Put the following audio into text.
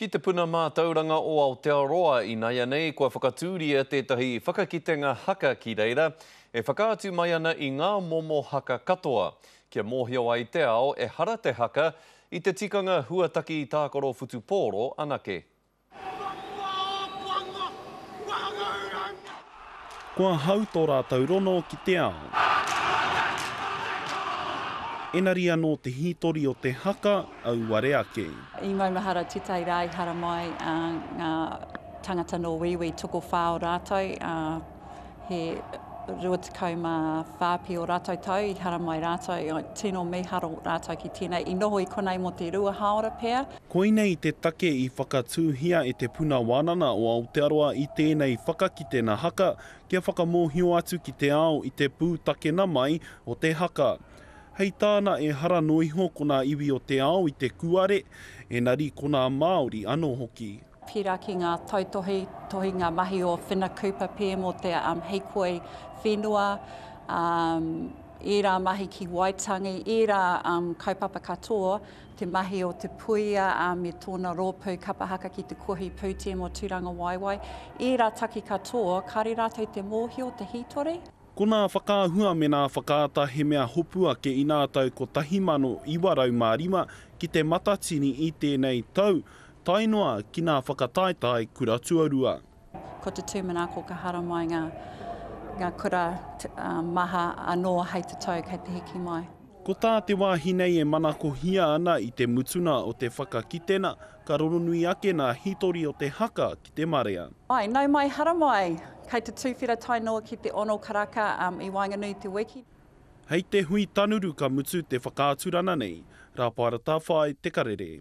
Ki te Puna Mātauranga o Aotearoa inaianei kua whakatūria tētahi whakakitenga haka ki reira e whakaatu mai ana i ngā momo haka katoa kia mōhio ai te ao ehara te haka i te tikanga huataki tākaro whutupōro anake. Kua hau tō rātou rono ki te ao. Enari anō te hītori o te haka auare ake. I maumahara titai ra i haramai nga tangata no Wīwī tokowha o ratou, he rua tekau ma wha pi o ratou tau i haramai ratou, tino miharo ratou ki tenei, i noho i konei mo te rua haora pea. Koinei te take i whakatūhia e Te Puna Wānana o Aotearoa i tēnei whakakitenga haka kia whakamōhio atu ki te ao i te pūtakena mai o te haka. Hei tāna ehara noa iho ko nā iwi o te ao i te kūare, engari ko nā Māori anō hoki. Pērā ki ngā tautohe, tohe ngā mahi o Whina Cooper PM o te Hīkoi Whenua, ērā mahi ki Waitangi, ērā kaupapa katoa, te mahi o Te Puia me tōna rōpū Kapa Haka ki te Kohi Pū Team o Tūrangawaewae, ērā taki katoa, kāre rātou te mōhio, te hītori. Ko nā whakaahua me nā whakaata he mea hopu ake i nā tau 1905 ki te matatini i tēnei tau, tae noa ki nā whakataetae kura tuarua. Ko te tūmana ko ka haramai ngā, ngā kura maha anō hei te tau kei te hiki mai. Ko tā te wāhi nei e manakohia ana i te mutunga o te whakakitenga, ka rongonui ake nā hītori o te haka ki te marea. Āe, nau mai haramai! Kei te tūwhera tae noa ki te ono karaka i waenganui i te wiki. Hei te hui tanuru ka mutu te whakaaturana nei, Rāpara Tawhai, Te Karere.